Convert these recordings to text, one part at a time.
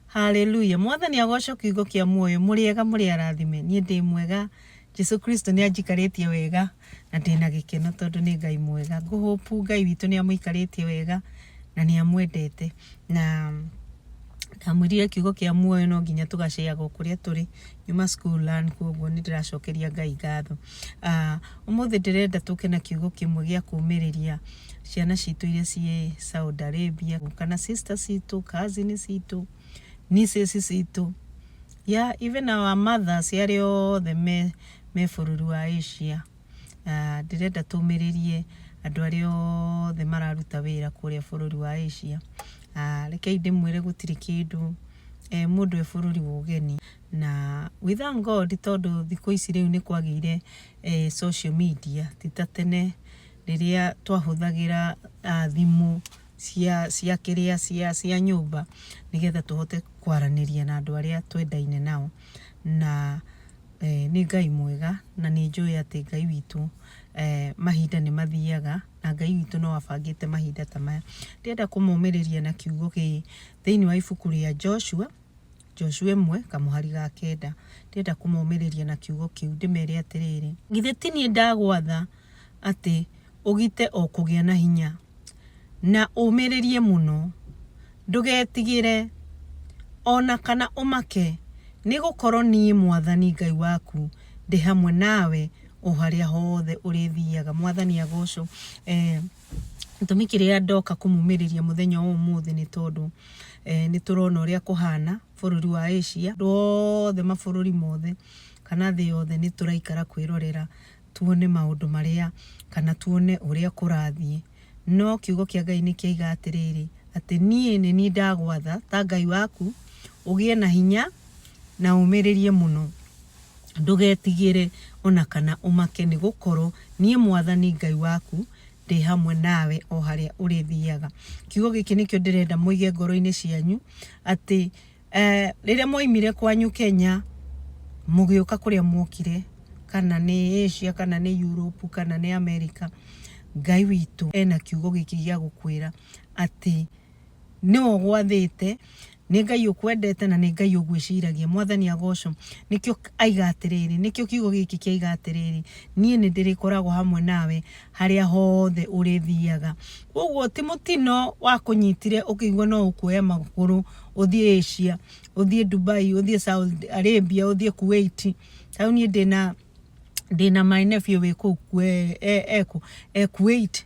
Haleluya. Mwathani agoco kiugo kia muoyo muriega muri arathime. Nie ndi mwega. Jesu Kristo ni anjikaritie wega na ndi na gikeno tondu ni Ngai mwega. Nguhopu Ngai witu ni amuikaritie wega na ni amwendete. Na ndamwirire kiugo kia muoyo no nginya tugaceaga kuria turi nyuma school learn koguo ni ndiracokeria Ngai ngatho. Uh, umuthi ndirenda tuke na kiugo kimwe gia kumiriria ciana citũ iria ciĩ Saudi Arabia kana sister citũ cousin citũ nieces citũ yeah, even our mothers arĩa othe me, me bũrũri wa Asia Ah, ndĩrenda tũmĩrĩrie andũ arĩa othe mararuta wĩra kũrĩa bũrũri wa Asia Ah, rekei ndĩmwĩre gũtirĩ kĩndũ eh, mũndũ e bũrũri wa ũgeni na we thank God tondũ thikũ ici rĩu nĩ kwagĩire eh, social media ti ta tene rĩrĩa twahũthagĩra thimũ cia kĩrĩa cia nyũmba nĩgetha tũhote kwaranĩria na andũ arĩa twendaine nao. Na nĩ Ngai mwega na nĩ njũĩ atĩ Ngai witũ mahinda nĩ mathiaga na Ngai witũ no abangĩte mahinda ta maya. Ndĩrenda kũmomĩrĩria na kiugo gĩkĩ thĩinĩ wa ibuku rĩa Joshua Joshua ĩmwe kamũhari ga kenda. Ndĩrenda kũmomĩrĩria na kiugo kĩu ndĩmere atĩrĩrĩ, githĩ ti niĩ ndagwatha atĩ ũgite o kũgĩa na hinya na ũmĩrĩrie mũno, ndũgetigĩre o na kana ũmake, nĩ gũkorwo niĩ mwathani Ngai waku ndĩ hamwe nawe o harĩa hothe ũrĩthiaga. Mwathani agocwo. Gĩtũmi kĩrĩa ndoka kũmumĩrĩria mũthenya wa ũmũthĩ nĩ tondũ eh, nĩ tũrona ũrĩa kũhana bũrũri wa Asia wothe mabũrũri mothe kana thĩ yothe nĩ tũraikara kwĩrorera tuone maũndũ marĩa kana tuone ũrĩa kũrathiĩ no kiugo kĩa Ngai nĩ kĩaiga atĩrĩrĩ atĩ niĩ nĩ niĩ ndagwatha ta Ngai waku ũgĩe na hinya na ũmĩrĩrie mũno Ndũgetigĩre o na kana ũmake, nĩ gũkorũo niĩ mwathani Ngai waku ndĩ hamwe nawe o harĩa ũrĩthiaga. Kiugo gĩkĩ nĩkĩo ndĩrenda mũige ngoro-inĩ cianyu, atĩ rĩrĩa mwaumire kwanyu Kenya mũgĩũka kũrĩa mwokire, kana nĩ Asia, kana nĩ Europe, kana nĩ America, Ngai witũ ena kiugo gĩkĩ gĩa gũkwĩra atĩ nĩwe ũgwathĩte nĩ ngai ũkwendete na nĩ ngai ũgwĩciragia mwathani agocwo nĩkĩo aiga atĩrĩrĩ nĩkĩo kiugo gĩkĩ kĩaiga atĩrĩrĩ niĩ nĩ ndĩrĩkoragwo hamwe nawe harĩa hothe ũrĩthiaga koguo ti mũtino wa kũnyitire ũkĩigua no ũkuoya magũrũ ũthiĩ Asia ũthiĩ Dubai ũthiĩ Saudi Arabia ũthiĩ Kuwait tau niĩ ndĩna ndĩna my nephew wĩ kũu kwe- e- eku- e Kuwait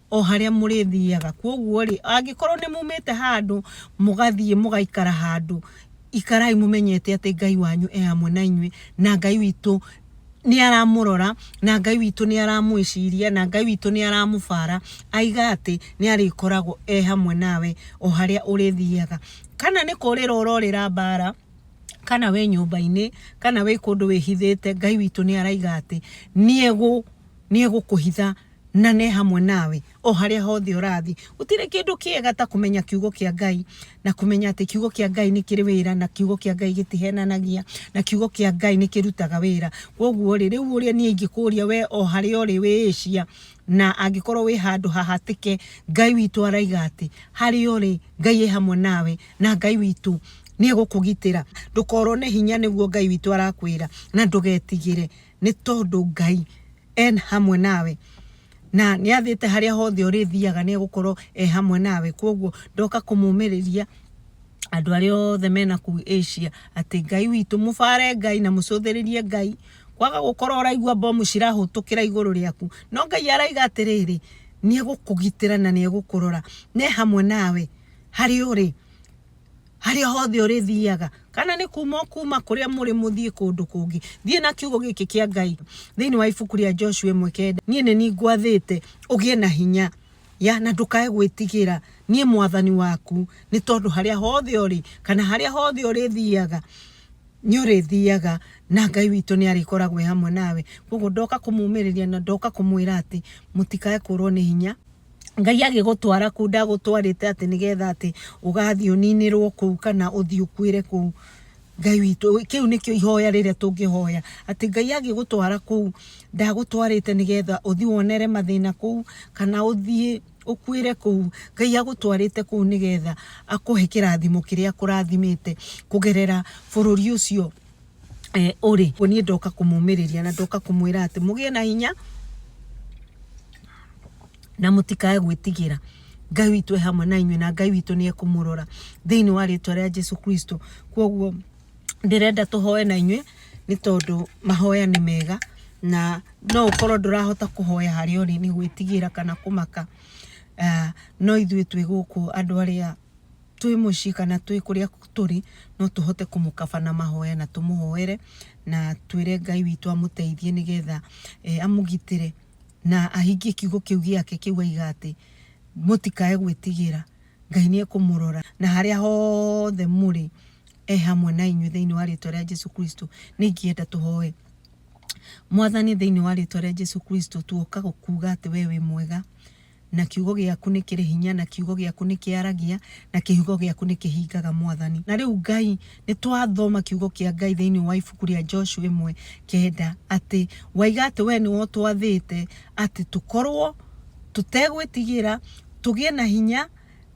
o harĩa mũrĩthiaga kwoguo rĩ angĩkorwo nĩ mumĩte handũ mũgathiĩ mũgaikara handũ ikarai mũmenyete atĩ ngai wanyu e hamwe na inyuĩ na ngai witũ nĩ aramũrora na ngai witũ nĩ aramwĩciria na ngai witũ nĩ aramũbara aiga atĩ nĩ arĩkoragwo e hamwe nawe o harĩa ũrĩthiaga kana nĩ kũrĩra ũrorĩra mbara kana wĩ nyũmba-inĩ kana wĩ kũndũ wĩhithĩte ngai witũ nĩ araiga atĩ nĩ egũkũhitha na ne hamwe nawe o harĩa hothe ũrathiĩ gũtirĩ kĩndũ kĩega ta kũmenya kiugo kĩa ngai na kũmenya atĩ kiugo kĩa ngai nĩ kĩrĩ wĩra na kiugo kĩa ngai gĩtihenanagia na kiugo kĩa ngai nĩ kĩrutaga wĩra koguo rĩ rĩu ũrĩa niĩ ingĩkũria we o harĩa ũrĩ wĩĩcia na angĩkorwo wĩ handũ hahatĩke ngai witũ araiga atĩ harĩa ũrĩ ngai ĩ hamwe nawe na ngai witũ nä egå kå gitĩra ndå korwo nä hinya nä guo ngai witå arakwä ra na ndå getigä re nĩ tondũ Ngai en hamwe nawe na nĩ athĩte harĩa hothe ũrĩthiaga nĩ egũkorwo e hamwe nawe kwoguo ndoka kũmũmĩrĩria andũ arĩa othe mena kuu Asia atĩ Ngai witũ mũbare Ngai na mũcũthĩrĩrie Ngai kwaga gũkorwo ũraigua mbomu cirahũtũkĩra igũrũ rĩaku no Ngai araiga atĩrĩrĩ nĩ egũkũgitĩra na nĩ egũkũrora nĩ hamwe nawe harĩ ũrĩ harĩa hothe ũrĩthiaga kana nĩ kuma kuma kũrĩa mũrĩ mũthiĩ kũndũ kũngĩ thiĩ na kiugo gĩkĩ kĩa ngai thĩinĩ wa ibuku rĩa joshua ĩmwe kenda niĩ nĩ ningwathĩte ũgĩe na hinya ya na ndũkae gwĩtigĩra niĩ mwathani waku nĩ tondũ harĩa hothe ũrĩ kana harĩa hothe ũrĩthiaga nĩ ũrĩthiaga na ngai witũ nĩ arĩkoragwo hamwe nawe koguo ndoka kũmumĩrĩria na ndoka kũmwĩra atĩ mũtikae kũrwo nĩ hinya ngai agĩgũtwara kuu ndagũtwarĩte atĩ nĩgetha atĩ ũgathiĩ ũninĩrwo kuu kana ũthiĩ ũkuĩre kuu ngai witũ kĩu nĩkĩo ihoya rĩrĩa tũngĩhoya atĩ ngai agĩgũtwara kuu ndagũtwarĩte nĩgetha ũthiĩ wonere mathĩna kuu kana ũthiĩ ũkuĩre kuu ngai agũtwarĩte kuu nĩgetha akũhe kĩrathimo kĩrĩa akũrathimĩte kũgerera bũrũri ũcio eh, ũrĩ ũguo niĩ ndoka kũmũmĩrĩria na ndoka kũmwĩra atĩ mũgĩe na hinya na mũtikae gwĩtigĩra ngai witũ e hamwe na inyuĩ na ngai witũ nĩ ekũmũrora thĩinĩ wa rĩtwa rĩa jesu kristo kwoguo ndĩrenda tũhoe na inyuĩ nĩ tondũ mahoya nĩ mega na no ũkorwo ndũrahota kũhoya harĩa ũrĩ nĩ gwĩtigĩra kana kũmaka Ah, no ithuĩ twĩ gũkũ andũ arĩa twĩ mũciĩ kana twĩ kũrĩa tũrĩ no tũhote kũmũkaba na mahoya na tũmũhoere na twĩre Ngai witũ amũteithie nĩgetha eh, amũgitĩre na ahingie kiugo kĩu gĩake kĩu aiga atĩ mũtikae gwĩtigĩra Ngai nĩ ekũmũrora na harĩa hothe mũrĩ e hamwe na inyuĩ thĩinĩ wa rĩtwa rĩa Jesu Kristo nĩ ingĩenda tũhoe mwathani thĩinĩ wa rĩtwa rĩa Jesu Kristo tuoka gũkuga atĩ we wĩ mwega Na kiugo gĩaku nĩ kĩrĩ hinya, na kiugo gĩaku nĩ kĩaragia, na kĩhugo gĩaku nĩ kĩhingaga mwathani. Na rĩu Ngai, nĩ twathoma kiugo kĩa Ngai thĩinĩ wa ibuku rĩa Joshua ĩmwe kenda, atĩ waiga atĩ we nĩwe ũtwathĩte atĩ tũkorwo tũtegwĩtigĩra, tũgĩe na hinya,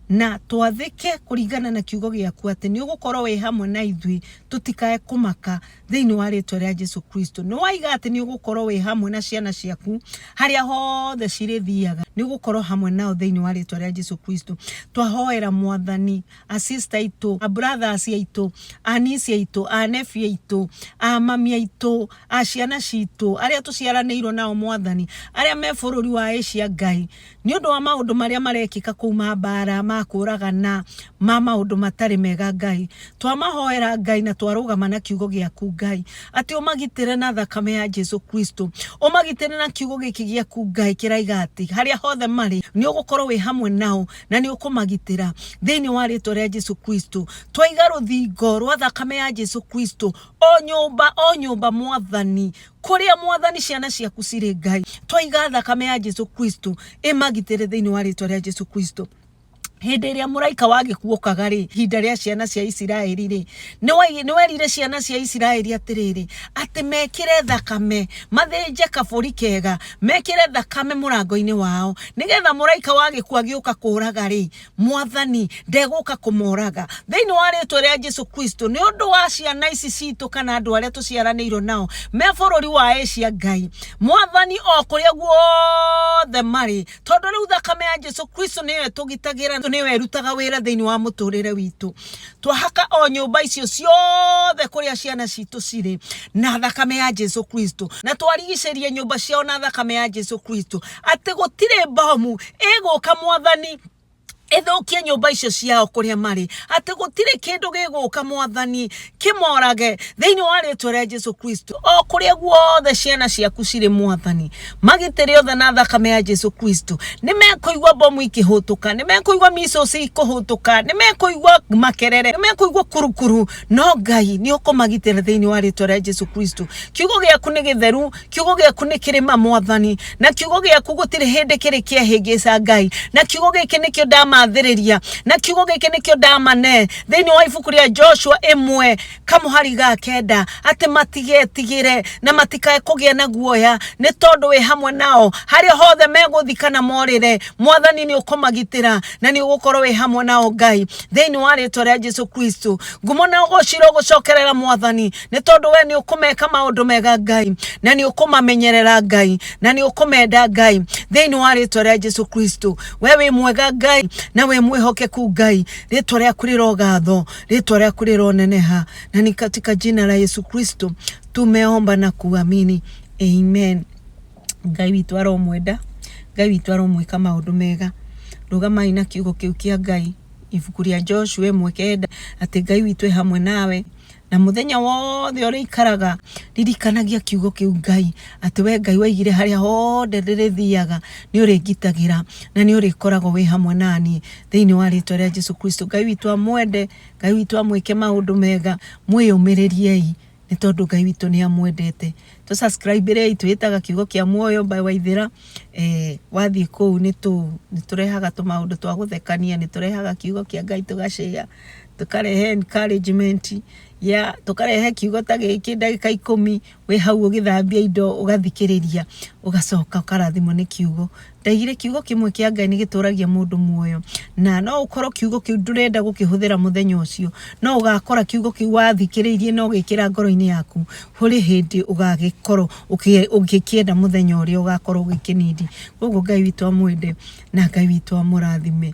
Na twathĩke kũringana na kiugo gĩaku atĩ nĩ ũgũkorwo wĩ hamwe na ithuĩ tũtikae kũmaka thĩinĩ wa rĩtwa rĩa Jesu Kristo. Nĩ waiga atĩ nĩ ũgũkorwo wĩ hamwe na ciana ciaku harĩa hothe cirĩthiaga, nĩ ũgũkorwo hamwe nao thĩinĩ wa rĩtwa rĩa Jesu Kristo. Twahoera mwathani, a sister aitũ, a brothers aitũ, a niece aitũ, a nephew aitũ, a mami aitũ, a ciana citũ, arĩa tũciaranĩirwo nao mwathani, arĩa me bũrũri wa Asia Ngai, Nĩ ũndũ wa maũndũ marĩa marekĩka kũu ma mbaara, ma kũũragana, ma maũndũ matarĩ mega, Ngai, twamahoera, Ngai, na twarũgama na kiugo gĩaku, Ngai, atĩ ũmagitĩre na thakame ya Jesu Kristo. Ũmagitĩre na kiugo gĩkĩ gĩaku, Ngai, kĩraiga atĩ harĩa hothe marĩ, nĩ ũgũkorwo wĩ hamwe nao na nĩ ũkũmagitĩra thĩinĩ wa rĩtwa rĩa Jesu Kristo. Twaiga rũthingo rwa thakame ya Jesu Kristo o nyũmba o nyũmba, Mwathani, Kũrĩa mwathani ciana ciaku cirĩ Ngai, twaiga thakame ya Jesu Kristo ĩmagitĩre thĩinĩ wa rĩtwa rĩa Jesu Kristo. Hĩndĩ ĩrĩa mũraika wa gĩkuokaga rĩ, ihinda rĩa ciana cia Isiraeli rĩ, nĩ werire ciana cia Isiraeli atĩrĩrĩ, atĩ mekĩre thakame, mathĩnje kabũri kega, mekĩre thakame mũrango-inĩ wao, nĩgetha mũraika wa gĩkuo agĩũka kũraga rĩ, mwathani ndegũka kũmoraga thĩinĩ wa rĩtwa rĩa jesu kristo nĩ ũndũ wa ciana ici citũ kana andũ arĩa tũciaranĩirwo nao me bũrũri wa asia ngai mwathani o kũrĩa guothe marĩ tondũ rĩu thakame ya jesu kristo nĩyo ĩtũgitagĩra nĩyo ĩrutaga wĩra thĩinĩ wa mũtũrĩre witũ twahaka o nyũmba icio ciothe kũrĩa ciana citũ cirĩ na thakame ya jesu kristo na twarigicĩria nyũmba ciao na thakame ya jesu kristo atĩ gũtirĩ mbomu ĩgũka mwathani ĩthũkie nyũmba icio ciao kũrĩa marĩ atĩ gũtirĩ kĩndũ gĩgũka mwathani kĩmorage thĩinĩ wa rĩtwa rĩa jesu kristo o kũrĩa guothe ciana ciaku cirĩ mwathani magitĩre othe na thakame ya jesu kristo nĩ mekũigua mbomu ikĩhũtũka nĩ mekũigua misos ikũhũtũka nĩ mekũigua makerere nĩ mekũigua kurukuru no ngai nĩ ũkũmagitĩra thĩinĩ wa rĩtwa rĩa jesu kristo kiugo gĩaku nĩ gĩtheru kiugo gĩaku nĩ kĩrĩ ma mwathani na kiugo gĩaku gũtirĩ hĩndĩ kĩrĩ kĩahĩngĩca ngai na kiugo gĩkĩ nĩkĩo ndamathĩrĩria na kiugo gĩkĩ nĩkĩo ndamane thĩinĩ wa ibuku rĩa joshua ĩmwe kamũhari ga kenda atĩ matigetigĩre na matikae kũgĩa na guoya nĩ tondũ wĩ hamwe nao harĩa hothe megũthi kana morĩre mwathani nĩ ũkũmagitĩra na nĩ ũgũkorwo wĩ hamwe nao ngai thĩinĩ wa rĩtwa rĩa jesu kristo ngumo na ũgũcira ũgũcokerera mwathani nĩ tondũ we nĩ ũkũmeka maũndũ mega ngai na nĩ ũkũmamenyerera ngai na nĩ ũkũmenda ngai thĩinĩ wa rĩtwa rĩa jesu kristo we wĩ mwega ngai na wĩ mwĩhokeku ngai rĩtwa rĩaku rĩrogatho rĩtwa rĩaku rĩroneneha na ni katika jina la yesu kristo tumeomba na kuamini amen ngai witũ aromwenda ngai witũ aromwĩka maũndũ mega rũgamai na kiugo kĩu kĩa ngai ibuku rĩa joshua ĩmwe kenda atĩ ngai witũ e hamwe nawe na muthenya wothe uri ikaraga ririkanagia kiugo kiu ngai ati we ngai waigire haria hothe ndirithiaga ni uri ngitagira na ni uri koragwo wi hamwe nani thiini wa ritwa ria jesu kristo ngai witu amwende ngai witu amwike maundu mega mwiyumiririe nä tondå ngai witå nä amwendete tå subscribe rä itå ĩtaga kiugo kĩa muoyo mbae waithĩra eh, wathiĩ kũu nĩ tũ- nĩ tũrehaga tå maũndũ twa gũthekania nĩ tũrehaga kiugo kĩa ngai tũgacĩa tũkarehe encouragement ya tũkarehe kiugo ta gĩkĩ ndagĩka ikũmi wĩ hau ũgĩthambia indo ũgathikĩrĩria ũgacoka ũkarathimwo nĩ kiugo ndaigire kiugo kĩmwe kĩa ngai nĩ gĩtũragia mũndũ muoyo na no ũkorwo kiugo kĩu ndũrenda gũkĩhũthĩra mũthenya ũcio no ũgakora kiugo kĩu wathikĩrĩirie na ũgĩkĩra ngoro-inĩ yaku hũrĩ hĩndĩ ũgagĩkorwo ũkĩ- ũgĩkĩenda mũthenya ũrĩa ũgakorwo ũgĩkĩnindi koguo ngai witũ amwende na ngai witũ amũrathime